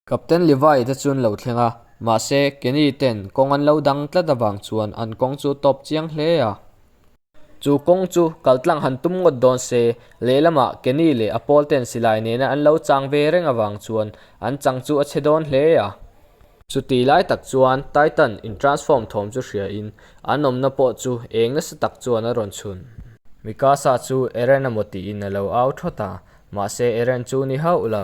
Captain Levi te chu'n lo thleng a, mahse, Kenny ten kawng an lo dang tlat avang chuan an kawng chu tawp chiang hle a. Chu kawng chu kaltlang han tum ngawt dawn se, lehlamah Kenny leh a pawl ten silai nena an lo chang ve reng avang chuan an chang chu a che dawn hle a. Chuti lai tak chuan Titan in transform thawm chu hria in an awmna pawh chu eng nasa tak chuan a rawn chhun. Mikasa chu Eren emaw tiin a lo au thawt a, mahse Eren chu ni hauh lo.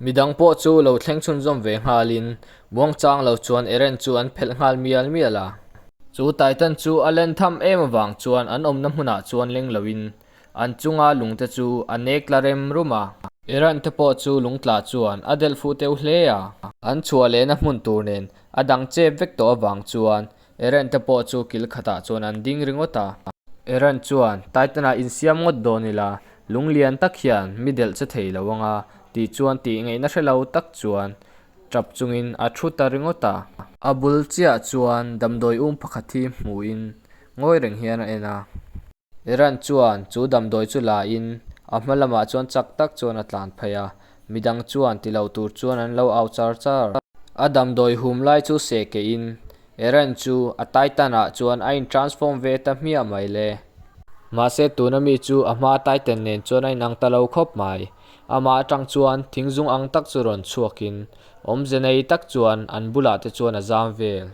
Midang pawh chu lo thleng chhun zawm ve nghal in Muangchang lo chuan Eren chu an phelh nghal mial mial a. Chu Titan chu a len tham em avang chuan an awmna hmunah chuan leng lo in an chunga lung te chu a nek la rem rum a. Eren te pawh chu lung tla chuan a delh fuh teuh hle a. An chhuah lehna hmun tur nen a dang chep vek tawh avang chuan Eren te pawh chu kil khatah chuan an ding ringawt a. Eren chuan, Titan-a insiam ngawt dawn ila, lung lian tak hian mi delh che thei lo anga, tih chuan tih ngaihna hre lo tak chuan ṭap chungin a ṭhu ta ringawt a. A bul chiah chuan damdawi um pakhat hi hmuhin ngawi reng hian a en a. Iran chuan chu damdawi chu lain a hma lamah chuan chak tak chuan a tlan phei a, midang chuan ti lo tur chuan an lo au char char. A damdawi hum lai chu seh keihin Iran chu a Titan ah chuan a in transform ve ta hmiah mai le. Mahse tuna mi chu a hma Titan nen chuan a inang ta lo khawp mai. Amah atang chuan thing zung ang tak chu rawn chhuakin awmze nei tak chuan an bulah te chuan a zam vel.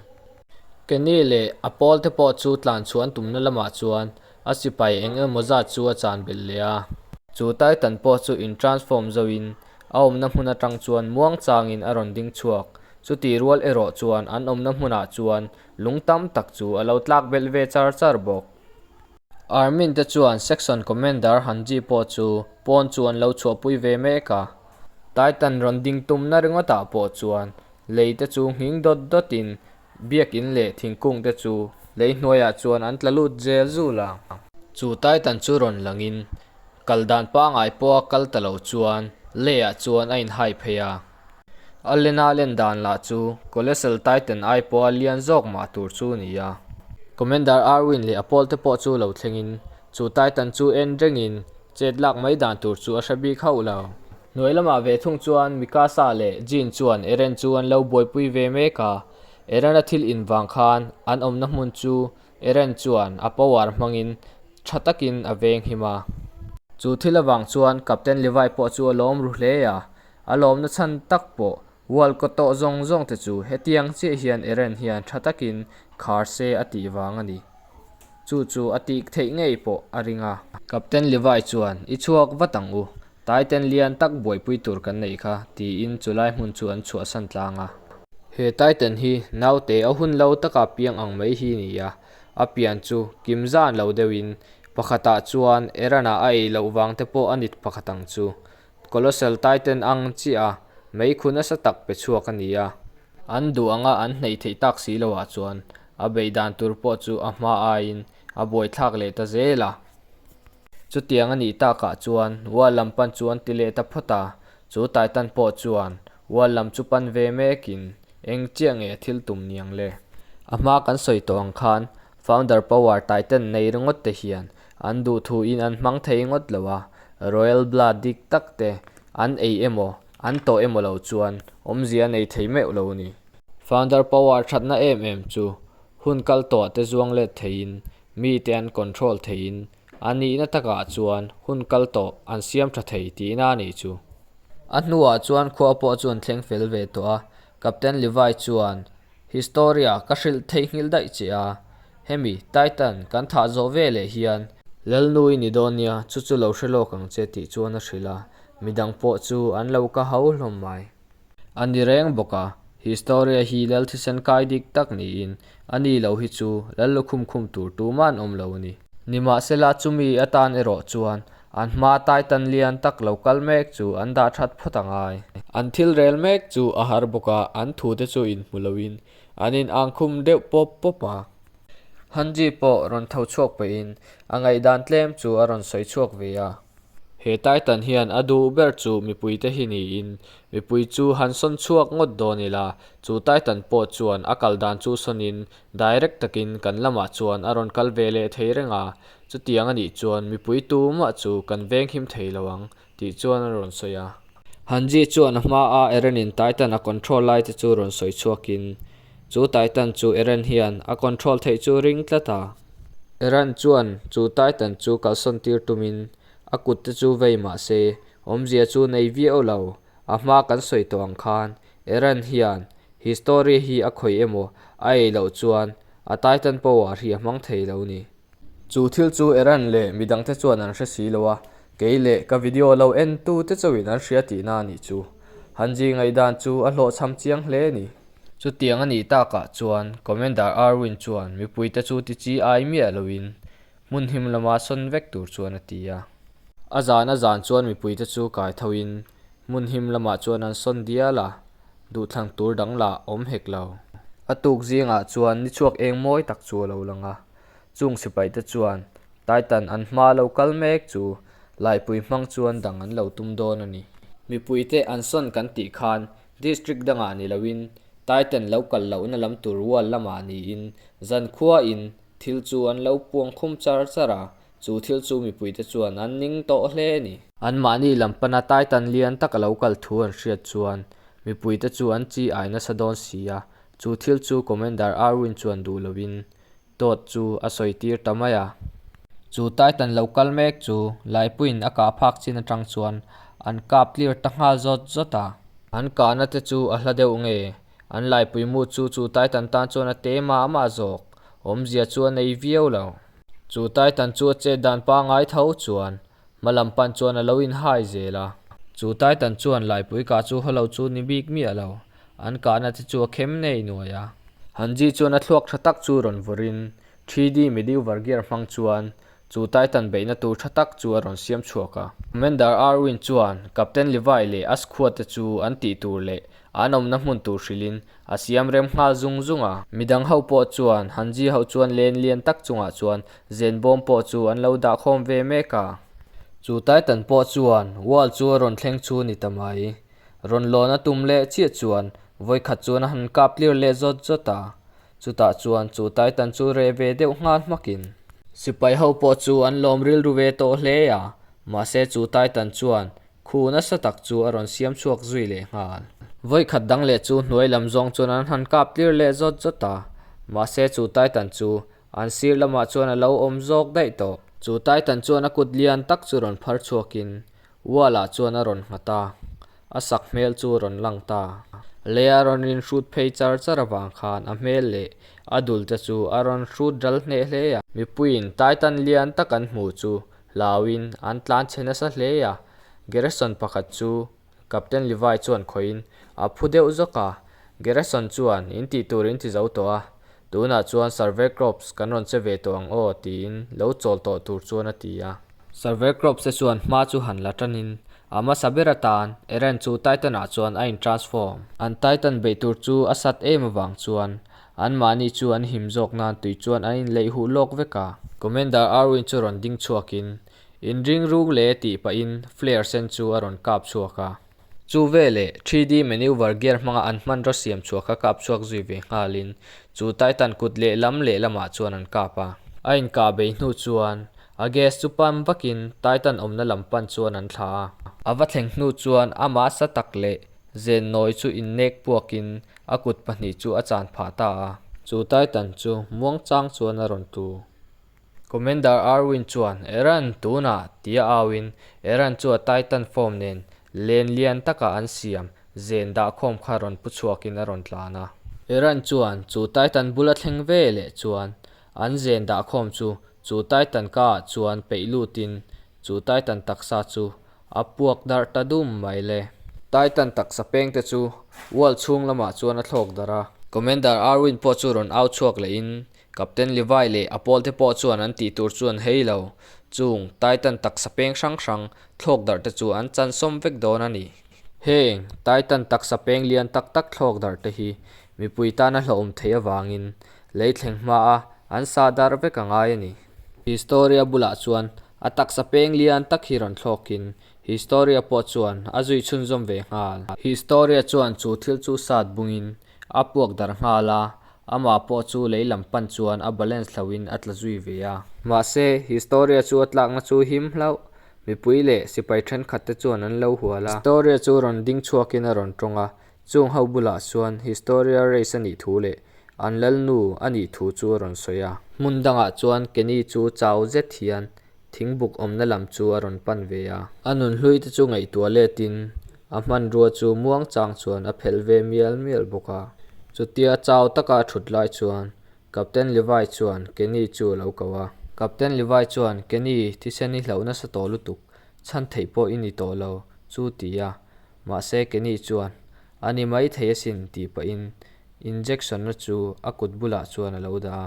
Kenny leh a pawl te pawh chu tlan chhuah an tumna lamah chuan a sipai eng emaw zat chu a chan belh leh a. Chu Titan pawh chu in transform zo in a awmna hmun atang chuan muangchang in a rawn ding chhuak. Chuti rual erawh chuan an awmna hmunah chuan lung tam tak chu a lo tlak belh ve char char bawk. Army te chuan section commander han chi pawh chu pawn chu an lo chhuahpui ve mek a. Titan rawn ding tumna ringawtah pawh chuan Lei te chu nghing dawt dawt in, biak in leh thingkung te chu lei hnuaiah chuan an tla lut zel zul ang. Chu Titan chu rawn lang in, kal dan pangai pawha kal ta lo chuan Lea chuan a in hai phei a. A lena len dan lah chu Colossal Titan ai pawha lian zawk mah tur chu a ni a. Commander Arwin leh a pawl te pawh chu lo thleng in, chu Titan chu en reng in chet lak mai dan tur chu a hre bik hauh lo. Hnuai lamah ve thung chuan Mikasa leh Jin chuan Eren chu an lo buaipui ve mek a, Eren-a thil in vang khan an awmna hmun chu Eren chuan a power hmangin tha takin a veng him a. Chu thil avang chuan Captain Levi pawh chu a lawm ru hle a, a lawmna chhan tak pawh Walcott tawh zawng zawng te chu hetiang chiah hian Eren hian tha takin khar se a tih vang a ni. Chu chu a tih theih ngei pawh a ring a. Captain Levi chuan, I chhuak vat ang u, Taiten lian tak buaipui tur kan neih kha, tiin chu lai hmun chu an chhuahsan tlang a. He Taiten hi naute a hun lo taka piang ang mai hi ni a, a pian chu kim zan lo deuhin pakhatah chuan Erena a ei loh vang te pawh a nit pakhat ang chu. Colossal taiten ang chiaha meikhun nasa tak pe chhuak a ni a. An duh anga an hneih theih tak si lo ah chuan a beih dan tur pawh chu a hma aiin a buaithlak leh ta zel a. Chutiang a nih tak ah chuan wall lam pan chu an ti leh ta phawt a, chu taiten pawh chuan wall lam chu pan ve mek in eng chiah nge a thil tum niang le. A hma kan sawi tawh ang khan Founder Power Titan nei ringawt te hian an duh thu in an hmang thei ngawt lo a, Royal Blood dik tak te an ei emaw, an tawh emaw lo chuan awmzia nei thei meuh lo a ni. Founder Power thatna em em chu hun kal tawh te zuang let thei in, mi te an control thei in, an nihna tak ah chuan hun kal tawh an siam tha thei tih na a nih chu. A hnu ah chuan khua pawh chu an thleng fel ve tawh a, Captain Levi chuan Historia ka hrilh theihnghilh daih che a, hemi Titan kan thah zawh ve leh hian. Lalnu i ni dawn nia, chu chu lo hre lawk ang che tih chuan a hrilh a, midang pawh chu an lo ka hau hlawm mai. A ni reng bawk a, Historia hi Lal thisen kai dik tak niin, a ni lo hi chu Lal lukhum khum tur tuman awm lo a ni. Nimahsela chumi atan erawh chuan An hma tai tan lian tak lo kal mek chu an dah that phawt a ngai. An thil rel mek chu a har bawk a, an thu te chu in hmu lo in an in ang khum deuh pawp pawp a. Han ji pawh rawn tho chhuak pe in a ngaihdan tlem chu a rawn sawi chhuak ve a. He tai tan hian a duh ber chu mipui te hi ni in, mipui chu han sawn chhuak ngawt dawn ila, chu tai tan pawh chuan a kal dan chu sawn in Direct takin kan lamah chuan a rawn kal ve leh thei reng a, chutiang a nih chuan mipui tumah chu kan veng him thei lo ang tih chuan a rawn sawi a. Han Ji chuan a hma a Eren in Titan a control lai te chu rawn sawi chhuak in, chu Titan chu Eren hian a control theih chu ring tlat a. Eren chuan chu Titan chu kalsawn tir tum in a kut te chu vei mah se, awmzia chu nei viau lo, a hma kan sawi tawh ang khan Iran hian history hi a khawih emaw a ei loh chuan a titan power hi a hmang thei lo ni. Chu thil chu Iran leh midang te chuan an hre si lo a, kei leh ka video lo en tu te chauhin an hria tihna a nih chu. Han zing ngaih dan chu a hlawhchham chiang hle a ni. Chutiang a nih takah chuan Commander Erwin chuan mipui te chu ti chi ai miah loin Hmun him lamah sawn vek tur chuan a ti a. A zan a zan chuan mipuite chu kai tho in hmun him lamah chuan an sawn dial a, duhthlang tur dang lah awm hek lo. A tuk zingah chuan ni chhuak eng mawi tak chu a lo lang a, chung sipai te chuan Taitan an hma lo kal mek chu Laipui hmang chuan dang an lo tum dawn a ni. Mipuite an sawn kan tih khan District dangah ni lo in Taitan lo kal lohna lam tur wall lamah niin Zankhuain, Thil chu an lo puang khum char char a, chu thil chu mipuite chuan an ning tawh hle a ni. Anmahni lam pana Taitan lian taka lo kal thu an hriat chuan mipuite chu an chi ai nasa dawn si a, chu thil chu Commander Irwin chuan duh lovin Todd chu a sawi tir ta mai a. Chu Taitan lo kal mek chu Laipuiin a kah phak chin atang chuan an kap clear ta nghal zawt zawt a. An kahna te chu a hla deuh nge? An laipui mood chu chu Titan tan chuan a te mah mah zawk, awmzia chu a nei viau lo. Chu Titan chu a chet dan pa ngai tho chuan hmalam pan chuan a lo inhai zel a. Chu Titan chuan laipui kah chu haw lo chu ni bik miah lo, an kahna te chu a khem nei nuai a. Hanji chuan a thluak tha tak chu rawn vawrin Three D Mediu var gear hmang chuan chu Titan beihna tur tha tak chu a rawn siam chhuak a. Commander Arwin chuan Captain Levi leh a squad te chu an tih tur leh an awmna hmun tur hrilhin a siam rem nghal zung zung a. Midang ho pawh chuan han Zia ho chuan len lian tak chungah chuan zen bawm pawh chu an lo dah khawm ve mek a. Chu Titan pawh chuan wall chu a rawn thleng chu ni ta mai. Rawn lawn a tum leh chiah chuan vawikhat chuan a han kap tlir leh zawt zawt a. Chutah chuan chu Titan chu reh ve deuh nghal hmakin. Sipai ho pawh chu an lawm rilru ve tawh hle a, mahse chu Titan chuan khu nasa tak chu a rawn siam chhuak zui leh nghal. Vawikhat dang leh chu hnuai lam zawng chuan an han kap tlir leh zawt zawt a, mahse chu Titan chu an sir lamah chuan a lo awm zawk daih tawh. Chu Titan chuan a kut lian tak chu rawn phar chhuakin Wall ah chuan a rawn nghat a, a sak hmel chu rawn lang ta leh a rawn rinhrut phei char char avang khan a hmel leh a dul te chu a rawn hrut ral hneh hle a. Mipuiin Taitan lian tak an hmuh chu hlauin an tlan chhe nasa hle a, Gerreson pakhat chu Captain Levi chuan khawihin a phu deuh zawk a, Gerreson chuan in tih tur in ti zo tawh a, Tunah chuan Survey Crops kan rawn che ve tawh ang aw tiin lo chawl tawh tur chuan a ti a. Survey Crops te chuan hma chu han la tanin a hmasa ber atan Errand chu Titan ah chuan a in transform. An Titan beih tur chu a sat em avang chuan an mahni chu an him zawk nan tui chuan an in leih huh lawk vek a. Commander Arwin chu rawn ding chhuakin in ring rung le tih pahin flare sen chu a rawn kap chhuak a. Chu veleh, three D manoeuvre gear hmanga an hmanraw siam chhuah kha kap chhuak zui ve nghalin, chu Titan kut lehlam lehlamah chuan an kap a. A inkah bei hnu chuan, a gas chu pan vakin Titan awmna lam pan chuan an thla a. A va thleng hnu chuan a mahsa tak leh zen nawi chu innek puakin a kut pahnih chu a chan phah ta a. Chu Titan chu Muangchang chuan a rawn tlu. Commander Arwin chuan Eran tuna tia auin Eran chu a Titan form nen len lian taka an siam zen dah khawm kha rawn pu chhuakin a rawn tlan a. Eran chuan chu Titan bula thleng ve leh chuan an zen dah khawm chu chu Titan ka ah chuan peih lutin chu Titan taksa chu a puak darh ta dum mai le. Titan taksa peng te chu wall chhung lamah chuan a thlawk darh a. Commander Arwin pawh chu rawn au chhuak lehin Captain Levi leh a pawlte pawh chuan an tih tur chuan hei lo, chung Titan taksa peng hrang hrang thlawk darh te chu an chansawm vek dawn a ni. Heng Titan taksa peng lian tak tak thlawk darh te hi mipui tana hlauhawm theih avangin lei thleng hmaa an sa darh vek a ngai a ni. Historia bulah chuan a taksa peng lian tak hi rawn thlawkin Historia pawh chuan a zui chhunzawm ve nghal. Historia chuan chu thil chu sat bungin a puak darh nghal a, Amah pawh chu lei lam pan chuan a balance hlauhin a tla zui ve a. Mahse, historia chu a tlakna chu him hlauh, mipui leh sipai thenkhat te chuan an lo hual a. Historia chu rawn ding chhuakin a rawn tawng a, chung ho bulah chuan historia race a nih thu leh an lalnu a nih thu chu a rawn sawi a. Hmun dangah chuan Kenny chu chau zet hian thingbuk awmna lam chu a rawn pan ve a. A nun hlui te chu ngaihtuah letin a hmanrua chu muangchang chuan a phelh ve mial mial bawk a. Chutia chau taka a thut lai chuan Captain Levi chuan Kenny chu a lo ko a. Captain Levi chuan Kenny thisen i hlauh nasa tawh lutuk, chhan theih pawh i ni tawh lo, chu ti a. Mahse Kenny chuan, A ni mai thei asin, tih pahin injection-a chu a kut bulah chuan a lo dah a.